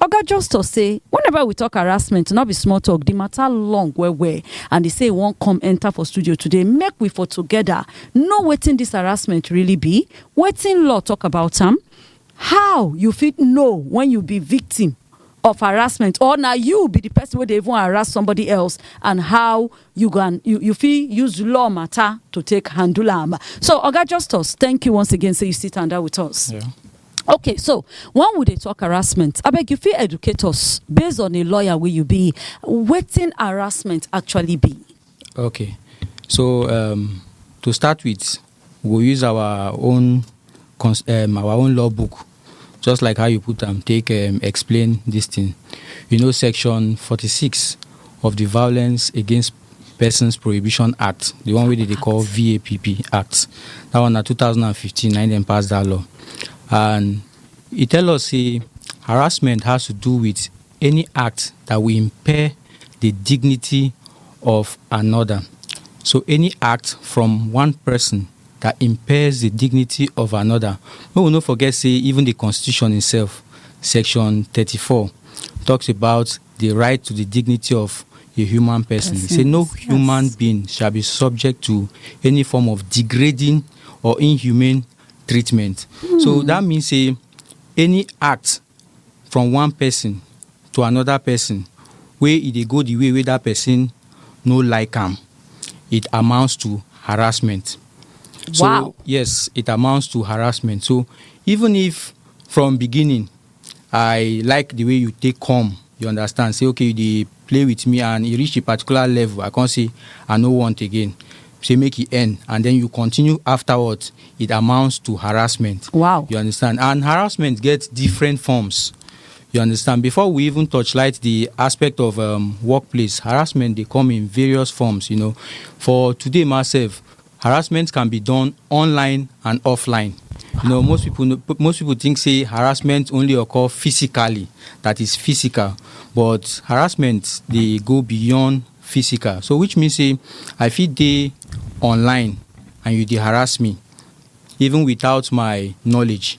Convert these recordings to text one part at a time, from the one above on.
Oga Justus say whenever we tok harassment, no be small tok, di mata long well well and e say e wan come enta for studio today make we for togeda know wetin dis harassment really be, wetin law tok about am, how you fit know wen you be victim of harassment or na you be di pesin wey dey even harass somebody else and how you go and you you fit use law mata to take handle am. So Oga Justus, thank you once again say you still tanda with us. Yeah. Okay so when we dey talk harassment abeg you fit educate us based on a lawyer wey you be wetin harassment actually be? Okay so um to start with we go use our own um our own law book just like how you put am take um explain this thing you know section forty six of the violence against Persons Prohibition Act, the one wey dem dey call VAPP Act. That one na 2015 na dem pass that law. And e tell us say harassment has to do with any act that will impair the dignity of another. So any act from one person that impairs the dignity of another. Make we no forget say even the constitution itself, section 34 talks about di right to di dignity of a human pesin, e say no human being shall be subject to any form of degrading or inhumane treatment. So dat mean say any act from one pesin to anoda pesin wey e dey go di way wey dat pesin no like am, it amounts to harassment. So, Wow. yes, it amounts to harassment. So, even if from beginning, I like the way you take come, you understand, say okay you dey play with me and e reach a particular level, I come say I no want again. Say make e end and then you continue afterwards, it amounts to harassment. Wow. You understand? And harassment gets different forms. You understand? Before we even touchlight the aspect of um, workplace, harassment they come in various forms. You know, for today myself, Harassment can be done online and offline. You know, most people know, most people think say harassment only occur physically, that is physical, but harassment they go beyond physical. So which means say I fit dey online and you dey harass me even without my knowledge.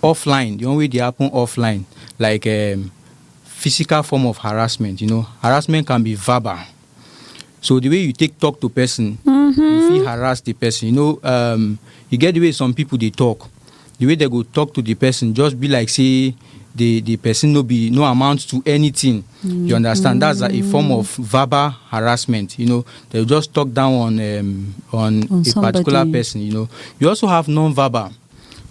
Offline, the one wey dey happen offline like um physical form of harassment, you know, harassment can be verbal. So the way you take talk to person, mm -hmm. you feel harass the person. You know, um, you get the way some people they talk, the way they go talk to the person, just be like say the the person no be no amount to anything. Mm -hmm. You understand? That's a, a, form of verbal harassment. You know, they just talk down on um, on, on, a somebody. particular person. You know, you also have non-verbal.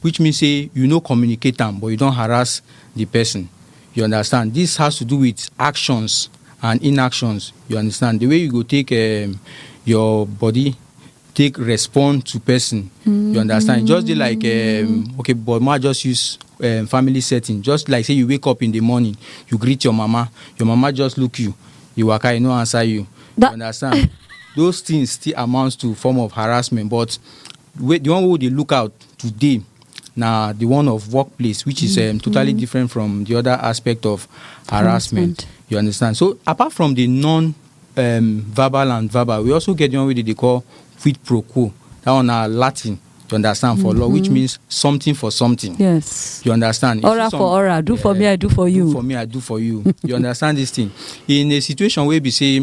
which means say you no communicate am but you don harass the person you understand this has to do with actions and inactions you understand the way you go take um, your body take respond to person mm-hmm. you understand mm-hmm. just like um, okay but ma just use um, family setting just like say you wake up in the morning you greet your mama your mama just look you you waka e no answer you that- you understand those things still amounts to form of harassment but wey the one wey we dey look out today na the one of workplace which is um, totally mm. different from the other aspect of harassment, harassment. you understand so apart from the non um, verbal and verbal we also get the one wey dey call quid pro quo that one na latin you understand for mm-hmm. law which mm-hmm. means something for something yes you understand aura for aura do yeah, for me i do for you do for me i do for you you understand this thing in a situation where we say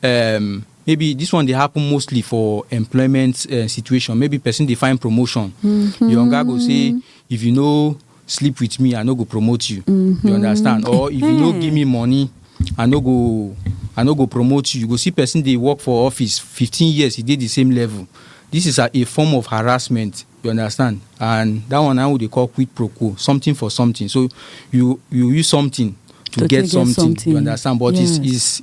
um, maybe this one dey happen mostly for employment uh, situation maybe person dey find promotion mm -hmm. your oga go say if you no sleep with me i no go promote you mm -hmm. you mm-hmm. understand or if you no hmm. give me money i no go i no go promote you you go see person dey work for office fifteen years he dey the same level this is a, a form of harassment you understand and that one now we dey call quid pro quo something for something so you you use something to, to get, something, something, you understand but yeah. it's, it's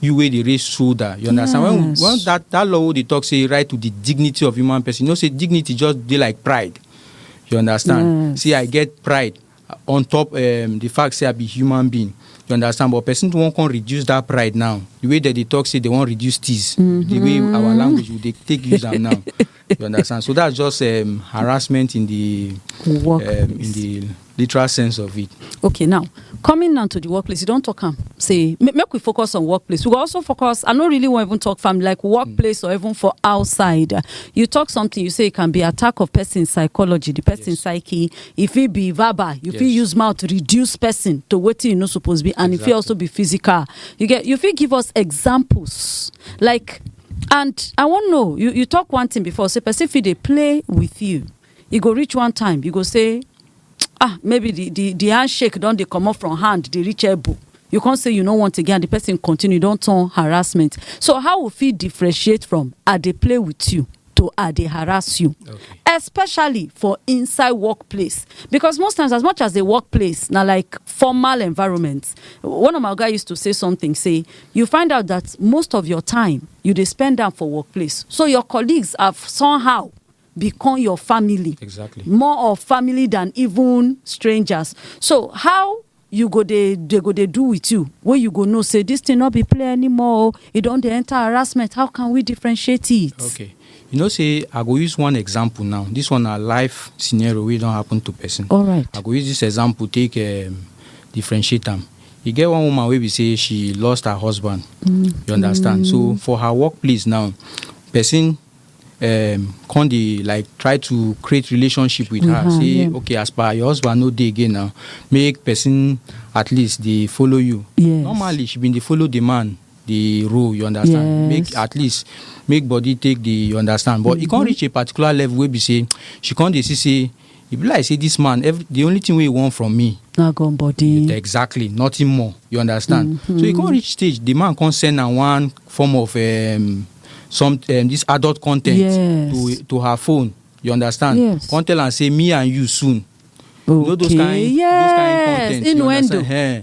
you wey dey raise shoulder you understand when Yes. when that that law wey dey talk say right to the dignity of human person you know say dignity just dey like pride you understand Yes. say i get pride on top um, the fact say i be human being you understand but person wan come reduce that pride now the way dem dey talk say they wan reduce tease the way our language we dey take use am now you understand so that's just um, harassment in the work um, in the literal sense of it. okay now coming now to the workplace you don't talk am say make we focus on workplace we also focus i no really want even talk from like workplace mm. or even for outside you talk something you say it can be attack of person psychology the person yes. psyche if it be verbal you yes. use mouth to reduce person to what you no supposed be and exactly. if it also be physical you get you fit give us examples like and i wan know you you talk one thing before say person fit dey play with you e go reach one time you go say ah maybe the the the handshake don dey comot from hand dey reach elbow you come say you no want again and the person continue e don turn harassment so how we fit differentiate from i dey play with you to i dey harass you especially for inside workplace because most times as much as the workplace na like formal environment one of my oga used to say something say You find out that most of your time you dey spend am for workplace, so your colleagues have somehow become your family. Exactly. More of family than even strangers. So how you go dey they go dey do with you wey you go know say this thing no be play anymore o e don dey enter harassment how can we differentiate it. Okay. You know, say I go use one example now. This one a life scenario wey don happen to person. All right. I go use this example take um, differentiate am. e get one woman wey be say she lost her husband you understand so for her workplace now person um, come dey like try to create relationship with her say okay as per your husband no dey again now make person at least dey follow you Yes. normally she been dey follow the man the role you understand Yes. make at least make body take the you understand but e come reach a particular level wey be say she come dey see say e be like say this man every the only thing wey he want from me na gun body exactly nothing more you understand mm -hmm. so e come reach stage the man come send am one form of um, some um, this adult content yes. to to her phone you understand yes. come tell am say me and you soon okay. you know those kind yes. those kind content innuendo hey, eh,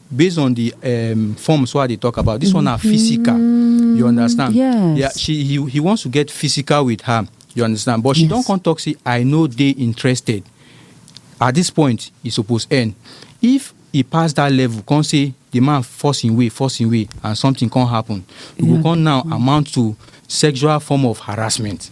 based on the um, forms what they talk about this mm-hmm. one are mm-hmm. physical you understand yes. yeah she he, he wants to get physical with her you understand but she yes. don't come talk say i know they interested at this point e suppose end if e pass that level come say the man force im way force im way and something come happen e go come now amount to sexual form of harassment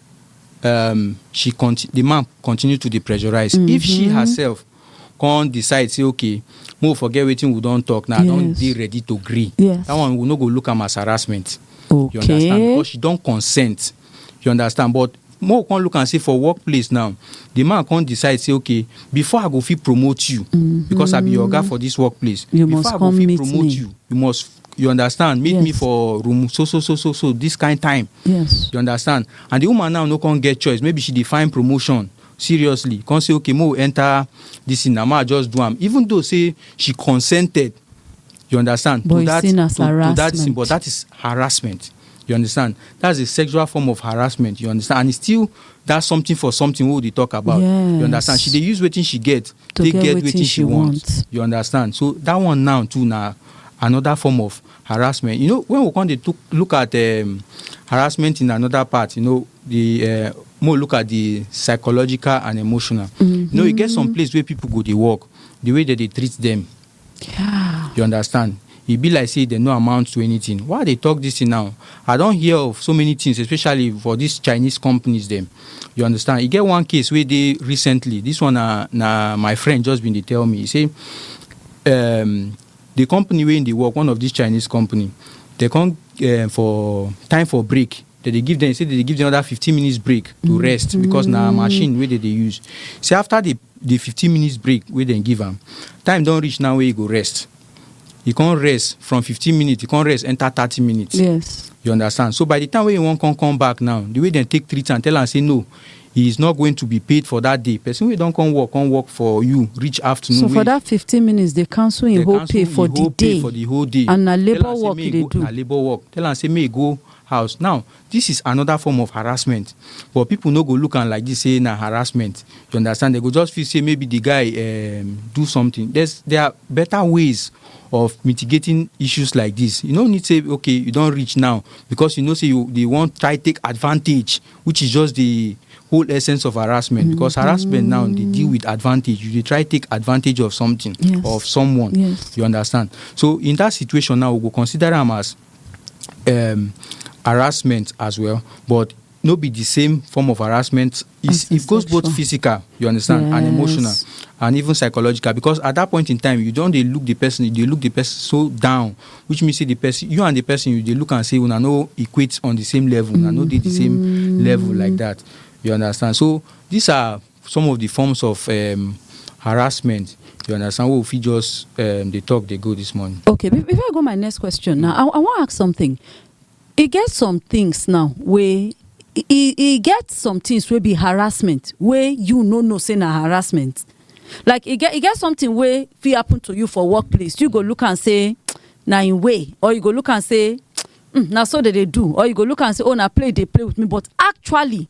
um she conti- the man continue to dey pressurize mm-hmm. if she mm-hmm. herself come decide say okay mo forget wetin we don talk now yes. i don dey ready to gree yes. that one we no go look am as harassment okay. you understand because she don consent you understand but mo come look am say for workplace now the man come decide say okay before i go fit promote you mm-hmm. because i be your oga for this workplace you before i go fit promote me. you you must you understand meet yes. me for room so so so so so this kind time yes you understand and the woman now no come get choice maybe she dey find promotion seriously come say okay mo enter this thing na ma just do am even though say she consented you understand but to that to, to that thing but that is harassment you understand that's a sexual form of harassment you understand and it's still that's something for something wey we dey talk about yes. you understand she dey use wetin she get to take get, get wetin she, she want. want you understand so that one now too na another form of harassment. You know, when we come to look at um, harassment in another part, you know, the uh, more look at the psychological and emotional. Mm-hmm. You know, you get some mm-hmm. place where people go to work, the way that they treat them. Yeah. You understand? e be like say dem no amount to anything why dey talk this thing now i don hear of so many things especially for these chinese companies dem you understand e get one case wey dey recently this one na na my friend just bin dey tell me e say um the company wey he dey work one of this chinese company they come um, for time for break they dey give them say they dey give them another fifteen minutes break to rest because na machine wey they dey use say after the the fifteen minutes break wey dem give am time don reach now wey he go rest he come rest from fifteen minutes he come rest enter thirty minutes Yes. you understand so by the time wey he wan come come back now the way dem take treat am tell am say no he is not going to be paid for that day person wey don come work come work for you reach afternoon so for that 15 minutes they cancel him whole pay for the day for the whole day and na labour work he dey do na labour work tell am say may go house now this is another form of harassment but people no go look am like this say na harassment you understand they go just feel say maybe the guy um, do something there's there are better ways of mitigating issues like this you no need say okay you don reach now because you know say you they wan try take advantage which is just the whole essence of harassment because harassment now they deal with advantage you dey try take advantage of something Yes. or of someone Yes. you understand so in that situation now we go consider am as um, harassment as well but no be the same form of harassment As It's, a it goes both sexual. physical you understand and emotional Yes. and even psychological because at that point in time you don dey look the person you dey look the person so down which mean say the person you and the person you dey look am say una no equate on the same level una no dey the same mm. level like that you understand so these are some of the forms of um, harassment you understand what if you just um, dey talk dey go this morning. okay before i go my next question now i, I wan ask something E get some things now wey e e get some things wey be harassment wey you no know say na harassment like e get e get something wey fit happen to you for work place you go look am say na im way or you go look am say na so dem dey do or you go look am say oh na play you dey play with me but actually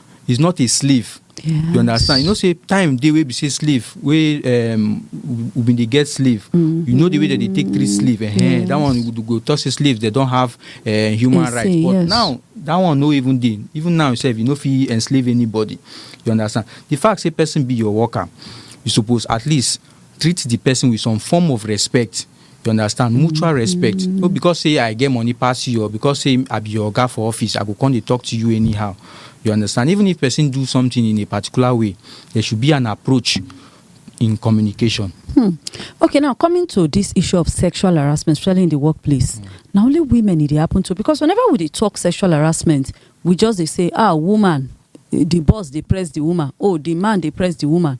is not a slave yes. you understand you know say time dey wey be say slave wey um, we bin dey get slave mm-hmm. you know the way that they take treat slave eh, yes. that one you go talk say slaves they don have uh, human Insane, rights but yes. now that one no even dey even now sef you no fit enslave anybody you understand the fact say person be your worker you suppose at least treat the person with some form of respect you understand mutual respect no because say i get money pass you or because say i be your oga for office i go come dey talk to you anyhow you understand even if person do something in a particular way there should be an approach in communication Okay, now coming to this issue of sexual harassment, especially in the workplace, now only women it dey happen to because whenever we dey talk sexual harassment, we just they say, ah, woman, eh, the boss they press the woman, oh, the man they press the woman.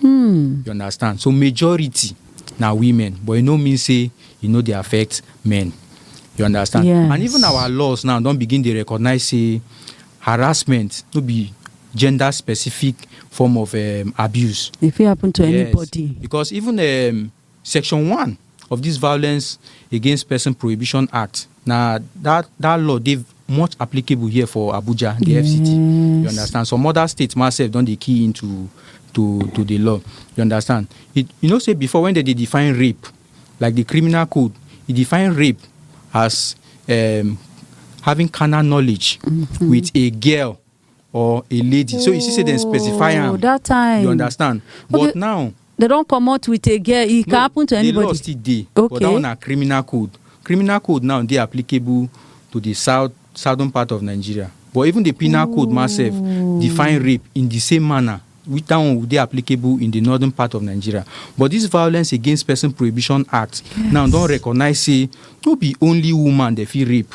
Hmm. You understand? So majority na women, but e no mean say e no dey affect men. You understand? Yes. And even our laws now don begin dey recognize say harassment no be gender specific form of um, abuse. If it happen to Yes, anybody. because even um, Section one of dis Violence Against Person Prohibition Act na dat dat law dey much applicable here for Abuja, di FCT, you understand. Some oda state ma sef don dey key in to to to di law, you understand. You you know sey before wen dem dey define rape, like di criminal code, e define rape as um having carnal knowledge wit a girl. or a lady so you see say dem specify am oh that time you understand but okay. now they don comot with a girl e can happen to anybody the law still dey okay. but that one na criminal code criminal code now dey applicable to the south southern part of nigeria but even the penal Ooh. code myself define rape in the same manner which that one dey applicable in the northern part of nigeria but this violence against person prohibition act yes. now don recognize say no be only woman dey fit rape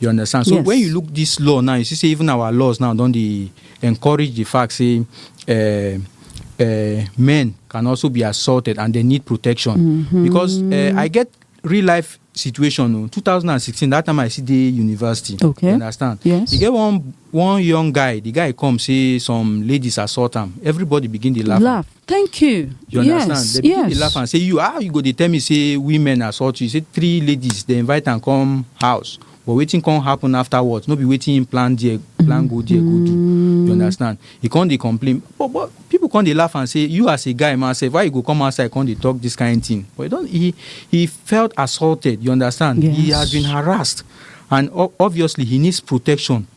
you understand so yes. when you look this law now you see say even our laws now don dey encourage the fact say uh, uh, men can also be assaulted and they need protection mm -hmm. because uh, i get real life situation o 2016 that time i still dey university okay you understand yes e get one one young guy the guy come say some ladies assault am everybody begin dey laugh laugh thank you you understand yes, the pikin yes. dey laugh am say you how you go dey tell me say women assault you say three ladies dey invite am come house but wetin come happen afterwards no be wetin him plan there plan go there go do mm. you understand he come dey complain but but people come dey laugh and say you as a guy man sef why you go come outside come dey talk this kind thing but he don he he felt assaulted you understand yes. he has been harassed and obviously he needs protection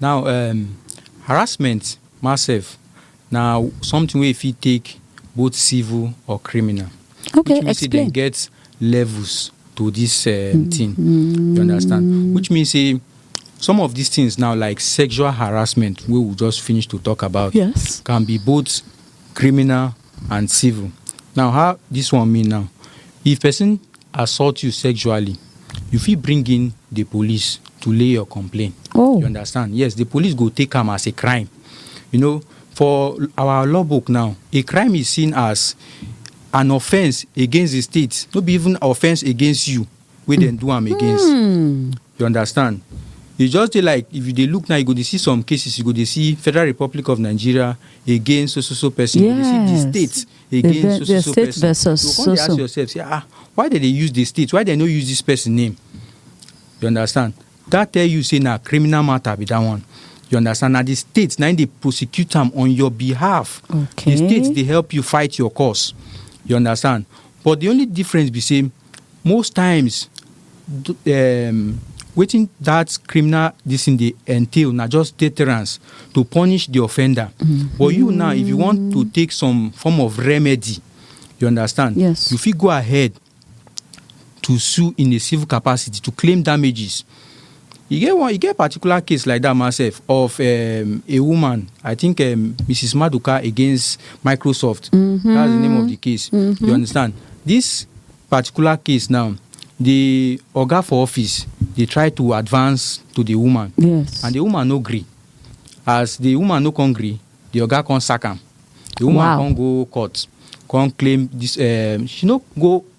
Now um harassment ma sef na something wey e fit take both civil or criminal. Okay, which mean say dem get levels to this um, mm-hmm. thing. You understand? Which means say some of these things now, like sexual harassment, we will just finish to talk about. Yes, can be both criminal and civil. Now how dis one mean now, if person assault you sexually you fit bring in the police to lay your complaint. Oh. You understand? Yes, the police go take am as a crime. You know, for our law book now, a crime is seen as an offence against the state, no be even offence against you wey dem do am against. You understand? E just dey like if you dey look now you go dey see some cases you go dey see Federal Republic of Nigeria against so so so person, you go dey see the Yes. state The- against the- so so the so state person. versus you go come dey so ask so. yourself say ah why dem dey use the state why dem no use this person name? You understand? That tell you say na criminal matter be that one. You understand? Na the state na im dey prosecute am on your behalf. Okay. The state dey help you fight your cause. You understand? But the only difference be say Most times um wetin that criminal this thing dey entail na just deterrence to punish the offender. Mm. But you now, if you want to take some form of remedy, you understand? Yes. You fit go ahead to sue in a civil capacity to claim damages E get one, e get particular case like that myself of um, a woman, I think um, Mrs. Maduka against Microsoft. Mm -hmm. That's the name of the case. Mm -hmm. You mm-hmm. understand? This particular case now, the oga for office dey try to advance to the woman. Yes. And the woman no gree. As the woman no come gree, the oga come sack am. The woman wow. come go court, come claim this. Um, she no go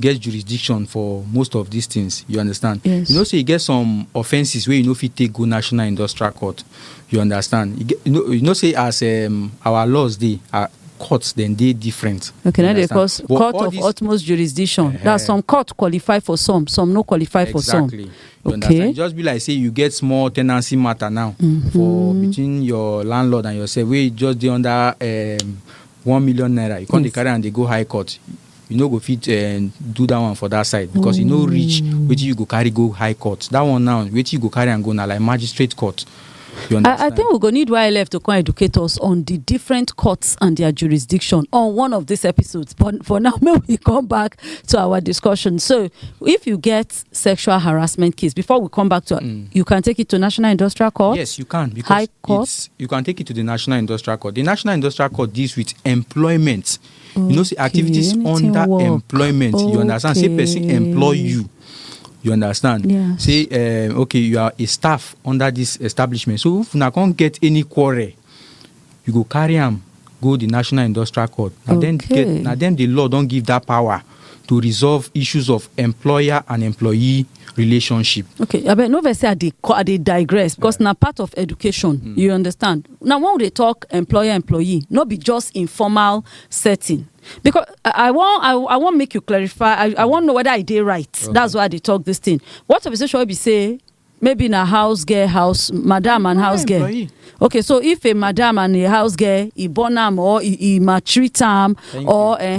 get jurisdiction for most of these things you understand yes. you know say e get some offences wey you no fit take go national industrial court you understand you, get, you, know, you know say as um, our laws dey uh, courts then they different. Okay, now they call court of this... utmost jurisdiction. Uh-huh. That some court qualify for some, some no qualify exactly. for some. Exactly. Okay. Understand? Just be like say you get small tenancy matter now mm-hmm. for between your landlord and yourself. We just the under um, one million naira. You can't yes. carry and they go high court. you no go fit eh, do that one for that side because e no reach mm. wetin you go carry go high court that one now wetin you go carry am go na like magistrate court You understand? I, I think we go need YLF to come educate us on the different courts and their jurisdiction on one of these episodes. But for now, may we come back to our discussion. So, if you get sexual harassment case, before we come back to, mm. you can take it to National Industrial Court. Yes, you can because High Court. you can take it to the National Industrial Court. The National Industrial Court deals with employment you know say activities anything under work. employment you understand say person Okay. employ you you understand Yeah. say um, okay you are a staff under this establishment so if una come get any quarrel you go carry am go the national industrial court na dem Okay. get na dem the law don give that power to resolve issues of employer and employee relationship. okay abeg no vex say i dey co- i dey digress because na part of education you understand na when we dey talk employer employee no be just informal setting because i I wan i I wan make you clarify i i wan know whether i dey right that's why i dey talk this thing what of a situation wey be say maybe na house girl house madam and house girl employee. okay so if a madam and a house girl e born am or e e maltreat am or uh,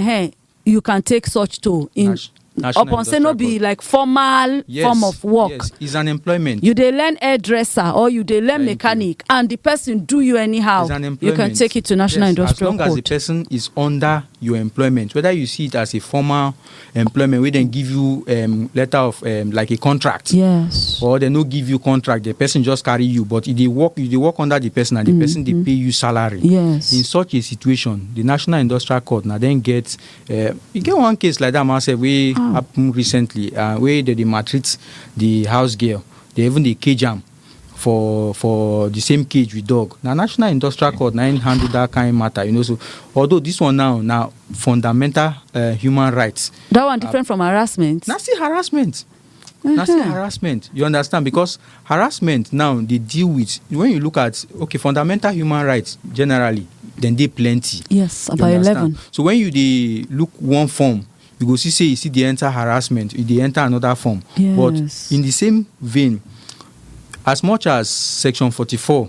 you can take such toll in Nas- National upon say no Industrial be Code. like formal Yes, form of work Yes, it's an employment. you dey learn hairdresser or you dey learn Thank you. mechanic and the person do you anyhow It's an you employment. can take it to national Yes, industrial as long as the code person is under your employment whether you see it as a formal employment wey dem give you um, letter of um, like a contract yes or dem no give you contract the person just carry you but e dey work you dey work under the person and the person dey pay you salary Mm-hmm. Yes. in such a situation The National Industrial Court na dem get uh, e get one case like that man sef wey oh. happen recently uh, wey dem dey maltreat the house girl dey even dey cage am for for the same cage with dog na national industrial court na im handle that kind matter you know so although this one now na fundamental uh, human rights. that one different uh, from harassment. na still harassment. na still mm-hmm. harassment you understand because harassment now dey deal with when you look at okay fundamental human rights generally then dey plenty. yes about eleven. so when you dey look one form you go see say you see dey enter harassment you dey enter another form. Yes. but in the same vein as much as section forty-four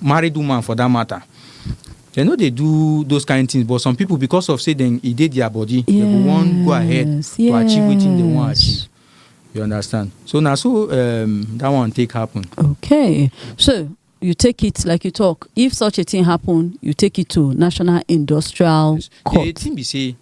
married woman for that matter dem no dey do those kind things but some people because of say dem e dey their body yes, they go wan go ahead yes. to achieve wetin they wan achieve you understand so na so um, that one take happen. okay so you take it like you talk if such a thing happen you take it to national industrial yes. court. the thing be say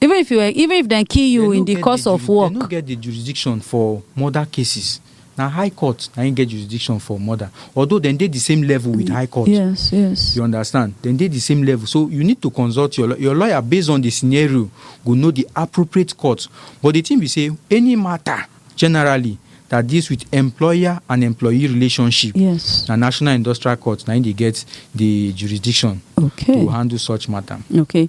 even if you were even if dem kill you in the course of work dem no get the jurisdiction for murder cases na high court na im get jurisdiction for murder although dem dey the same level with high court yes yes you understand dem dey the same level so you need to consult your your lawyer based on the scenario go know the appropriate court but the thing be say any matter generally that deals with employer and employee relationship yes na national industrial court na im dey get the jurisdiction okay to handle such matter okay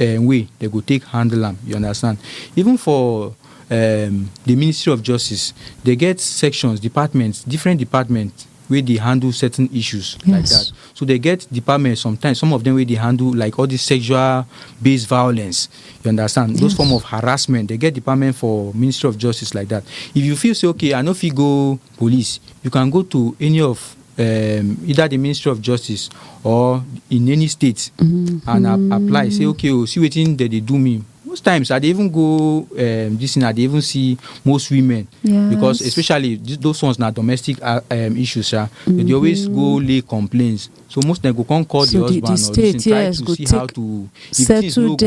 um way dem go take handle am you understand even for um the ministry of justice they get sections departments different departments wey dey handle certain issues yes. like that so they get departments sometimes some of them wey dey handle like all this sexual based violence you understand yes. those form of harassment they get department for ministry of justice like that if you feel say okay i no fit go police you can go to any of um, either the ministry of justice or in any state mm-hmm. and I apply say okay oh see wetin dem dey do me most times i dey even go um, this thing i dey even see most women yes. because especially those ones na domestic uh, um, issues sha mm-hmm. they dey always go mm-hmm. lay complaints so most dem go come call so the husband the, the state, or the state yes, try to see how to if things no go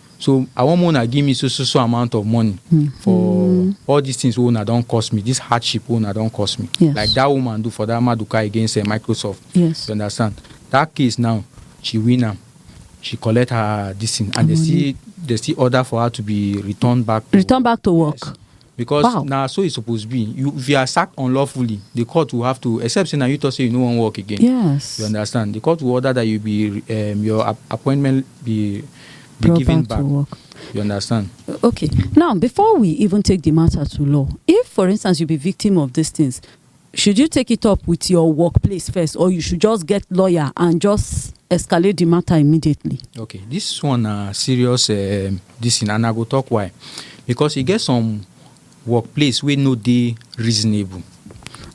so i wan make una give me so so so amount of money mm. for mm. all these things wey una don cost me this hardship wey una don cost me yes. like that woman do for that maduka against uh, microsoft yes. you understand that case now she win am she collect her this thing and they still they still order for her to be returned back to return back to work yes. because wow. na so e suppose be you if you are sacked unlawfully the court will have to except say na you talk say you no wan work again yes you understand the court will order that you be um, your ap appointment be be Brought given back, back. work. you understand okay now before we even take the matter to law if for instance you be victim of these things Should you take it up with your work place first or you should just get lawyer and just escalate the matter immediately. okay this one na serious um, this thing and i go talk why because e get some workplace wey no dey reasonable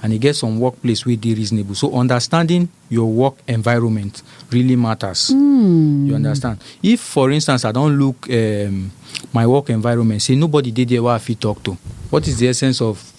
and e get some workplace wey dey reasonable so understanding your work environment really matters mm. you understand if for instance i don look um, my work environment say nobody dey there wey i fit talk to what is the essence of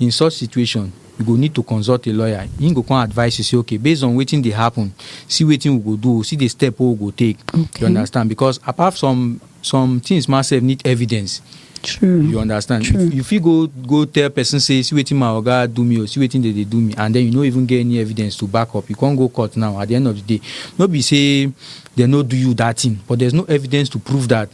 In such situation, you go need to consult a lawyer, him go come advise you say okay based on wetin dey happen, see wetin we go do, see the step wey we go take, you Okay. understand because apart some some things ma sef need evidence, True. you understand. True. You, you fit go go tell person say see wetin my oga do me o, see wetin dey dey do me and then you no even get any evidence to back up, you come go court now at the end of the day, no be say dem no do you that thing but there's no evidence to prove that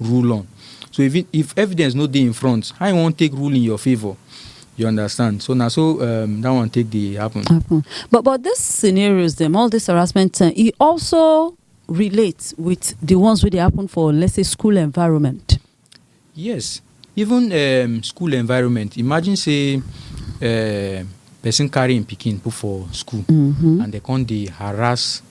rule on. So if, if evidence no dey in front, how you wan take rule in your favour? You understand? So now, so um, that one take the happen. happen. But but these scenarios, them all this harassment, uh, it also relates with the ones where they happen for let's say school environment. Yes, even um, school environment. Imagine say. Uh, person carrying picking put for school mm -hmm. and they come dey harass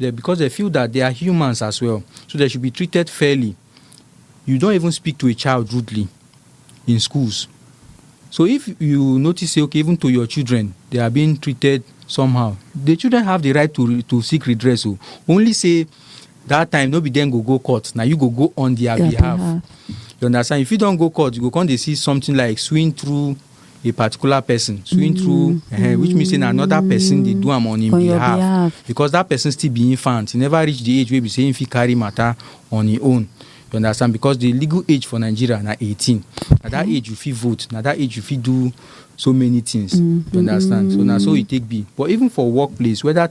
Dem because dem feel that they are humans as well so they should be treated fairly you don't even speak to a child rudely in schools so if you notice say okay even to your children they are being treated somehow the children have the right to to seek redress o oh. only say that time no be dem go go court na you go go on their, their behalf. behalf you understand if you don go court you go come dey see something like swing through a particular person suing through eh, which means say na another person dey do am on him On your behalf behalf. because that person still be infant he never reach the age wey be say him fit carry matter on him own you understand because the legal age for nigeria na eighteen na that age you fit vote na that age you fit do so many things you understand so na so e take be but even for workplace whether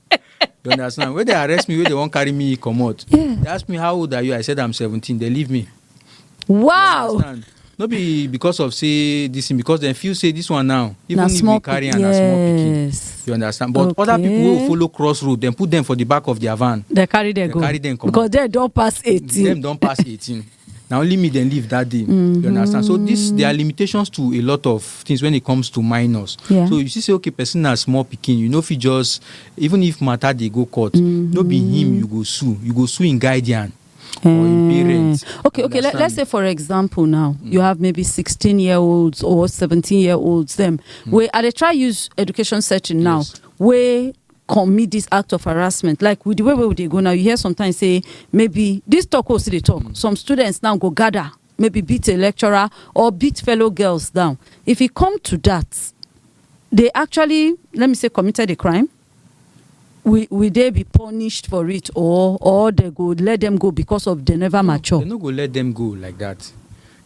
you understand wey dey arrest me wey dey wan carry me comot Yeah. they ask me how old are you i said i'm seventeen they leave me Wow. understand no be because of say this thing because dem feel say this one now even Na if small we carry am pikin. na small pikin Yes. you understand but other people wey Okay. follow cross road dem put dem for the back of their van They carry them They go. carry them comot. Because they don't pass 18. dem don pass eighteen na only me dem leave that day mm-hmm. you understand so this there are limitations to a lot of things when it comes to minors yeah. so you see say okay person na small pikin you no fit just even if matter dey go court mm-hmm. no be him you go sue you go sue him guardian or him mm. parents. Okay, okay. Let, us say, for example, now mm. you have maybe 16 year olds or 17 year olds, them mm. where are they try use education setting now, yes. where commit this act of harassment like with the way wey we dey go now you hear sometimes say maybe this talk wey we still dey talk some students now go gather maybe beat a lecturer or beat fellow girls down if e come to that they actually let me say committed a crime will will they be punished for it or or they go let them go because of they never mature They no go let them go like that.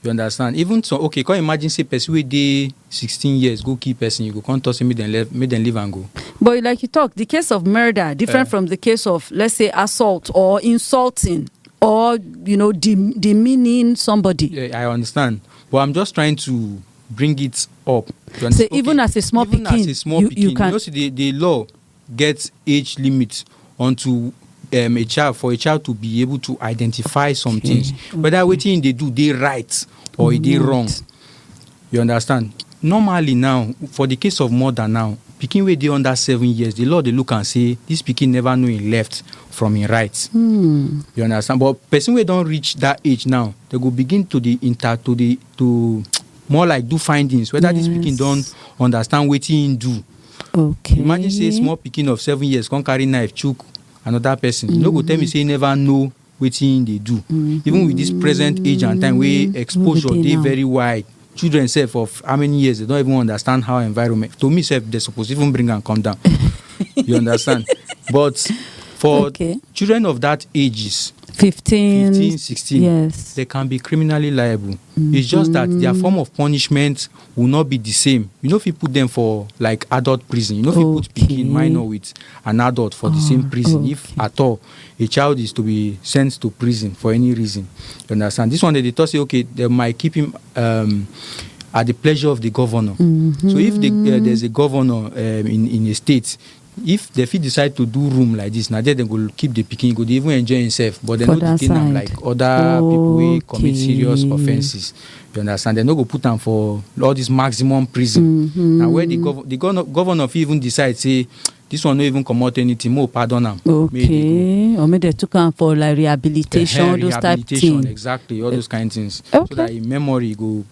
You understand? Even some okay, come imagine say person wey dey sixteen years go kill person, you go come talk say make dem leave, make dem leave am go. But like you talk, the case of murder different Eh. from the case of let's say assault or insulting or you know dem- demeaning somebody. Yeah, I understand, but I'm just trying to bring it up. You Say understand? even as a small even as pikin, a small you- you pikin, can- know, see the the law get age limit unto um, a child for a child to be able to identify some okay. things okay. whether wetin he dey do dey right or e dey wrong you understand normally now for the case of murder now pikin wey dey under seven years the law dey look am say this pikin never know him left from him right mm. you understand but person wey don reach that age now they go begin to dey inter to dey to more like do findings whether yes. this pikin don understand wetin him do okay imagine say small pikin of seven years come carry knife chook another person you no go tell me say you never know wetin him dey do even with this present age and time wey exposure dey dey now. very wide children sef of how many years they don even understand how environment to me sef they suppose even bring am come down you understand but for Okay. children of that ages 15, 15 16 yes they can be criminally liable it's just that their form of punishment will not be the same you no fit put them for like adult prison you no fit put pikin minor with an adult for the same ah, prison if at all a child is to be sent to prison for any reason you understand this one they dey talk say okay they might keep him um, at the pleasure of the governor. Mm-hmm. So if the, uh, there's a governor um, in, in a state If dem fit decide to do room like this, na there dem go keep the pikin, e go dey even enjoy himself, but dem For no that detain am side. like other people wey commit serious Okay. offences. You understand? Dem no go put am for all this maximum prison. Mhm. Na where the gov- the governor governor fit even decide say this one no even comot anything, make we pardon am. Make e dey go. Okay. Or make they took am for like rehabilitation, Ehen, all those type rehabilitation, thing. exactly all those kind things so Okay. that im memory go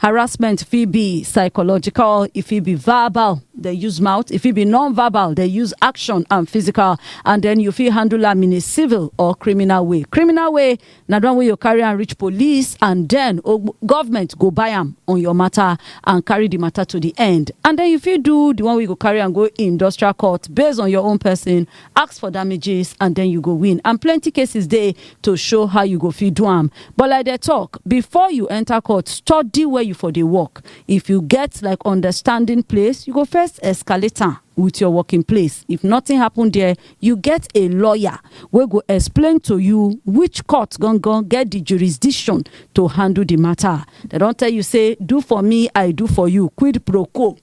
Harassment fit be psychological, e fit be verbal, dey use mouth, e fit be non-verbal, dey use action and physical, and then you fit handle am in a civil or criminal way. Criminal way na the one wey you carry am reach police and then ogb- government go buy am on your matter and carry the matter to the end. And then you fit do the one wey you go carry am go industrial court based on your own person Ask for damages and den you go win and plenty cases dey to show how you go fit do am but like dem talk before you enter court study where you for dey work if you get like understanding place you go first escalate am with your working place if nothing happen there you get a lawyer wey go explain to you which court gangan get the jurisdiction to handle the matter dem don tell you say do for me I do for you quid pro quo.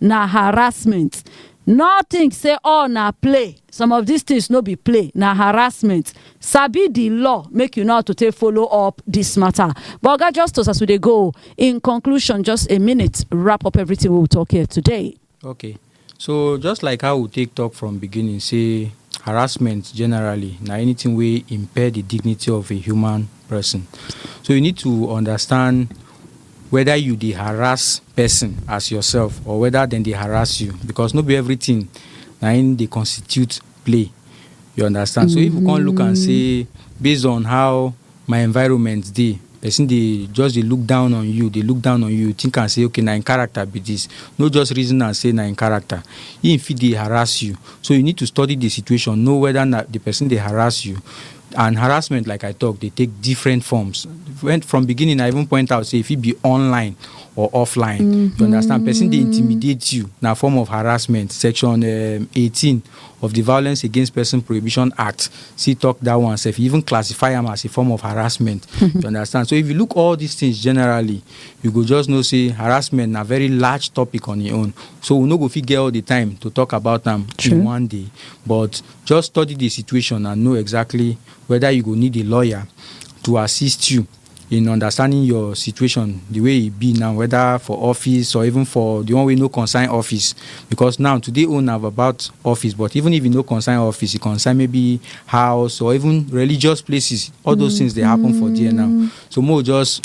na harassment no think say all na play some of dis tins no be play na harassment sabi di law make you know how to take follow up dis matter but oga justice as we dey go in conclusion just a minute wrap up everything wey we talk here today okay so just like how we take talk from beginning say harassment generally na anything wey impair the dignity of a human person so you need to understand Weda you dey harass pesin as yourself or weda dem dey harass you because no be everything na im dey constitute play you understand so if you come look am say based on how my environment dey pesin dey just dey look down on you dey look down on you think am say okay na im character be this no just reason am say na im character im fit dey harass you so you need to study the situation know weda na the pesin dey harass you and harassment like i talk dey take different forms when from beginning i even point out say if it be online or offline mm -hmm. you understand person they intimidate you now form of harassment section um, 18 of the violence against person prohibition act see talk that one self even classify them as a form of harassment mm-hmm. you understand so if you look all these things generally you go just know say harassment a very large topic on your own so we no go fit get all the time to talk about them in one day but Just study di situation and know exactly weda you go need a lawyer to assist you in understanding your situation di way e be now weda for office or even for di one wey no concern office because now today own na about office but even if e no concern office e concern maybe house or even religious places all those things dey happen for there now so make we just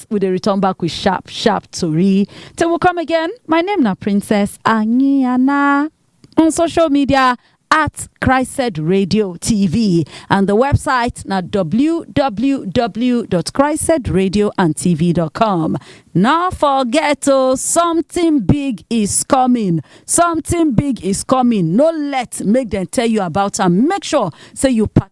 we dey return back with sharp sharp tori till we come again my name na princess anyiana on social media at christed radio tv and the website na www.christedradioandtv.com no forget o something big is coming something big is coming no let make dem tell you about am make sure say you part